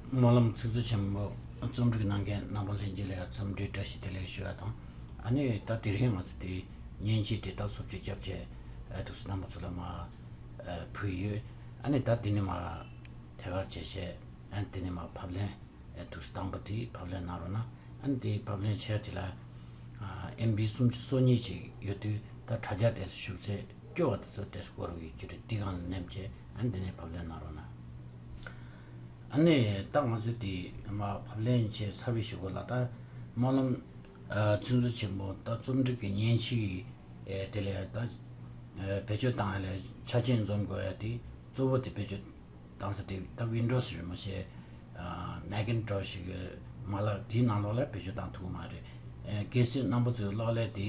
སྨོན་ལམ་ཚིག་མཛོད་ཆེན་མོ་རྩོམ་སྒྲིག་གནང་མཁན་རྣམ་པ་ལྷན་རྒྱས་ལ་འཚམས་འདྲི་བཀྲ་ཤིས་བདེ་ལེགས་ཞུ་བ་དང། ཨ་ནི་ད་དེ་རིང་ང་ཚོ་དེ་མཉེན་ཆས་དེ་དག་སོབ་ཆུ་སྐྱབས་བཅས་ཐུགས་སུ་བསྣམས་པ་ཚོ་ལ་མ་ཕུལ་ཡོད། ཨ་ནི་ད་དེ་ནས་མ་ཐད་ཀར་བྱས་བྱས་ཨ་ནི་དེ་ནས་མ་ཕབ་ལེན་ཐུགས་སུ་བཏང་པ་དེ་ཕབ་ལེན་གནང་རོགས་གནང་ཨ་ནི་དེ་ཕབ་ལེན་བྱས་དེ་ལ་ཨེམ་བྷི་སུམ་ཅུ་སོ་གཉིས་ཅིག་ཡོད་དུས་ད་དྲ་རྒྱ་དེ་སུ་ཞུགས་ཚེ་སྐྱོ་བ་དེ་ཚོ་དེ་སུ་བསྐོར་བའི་རྒྱུ་རེད་དེ་གང་ལ་ནེམ་བྱས་ཨ་ནི་དེ་ནས་ཕབ་ལེན་གནང་རོགས་གནང། ནས་ད་ང་ཚོས་དེ་ཕབ་ལེན་བྱས་ཚར་བའི་ཞོགས་ལ་ད་སྨོན་ལམ་ཚིག་མཛོད་ཆེན་མོ་ད་རྩོམ་སྒྲིག་གི་མཉེན་ཆས་དེ་ལས་ད་བེད་སྤྱོད་བཏང་ཡ་ལས་ཆ་རྐྱེན་འཛོམས་དགོས་ཡ་དེ་གཙོ་བོ་དེ་བེད་སྤྱོད་བཏང་ས་དེ་ད Windows རེད་མ་བྱས Macintosh གི་མ་ལག་དེའི་ནང་ལོགས་ལ་བེད་སྤྱོད་བཏང་ཐུབ་ཀྱི་མ་རེད་གལ་སྲིད་གནང་པོ་ཚོས་གློག་ཀླད་དེ།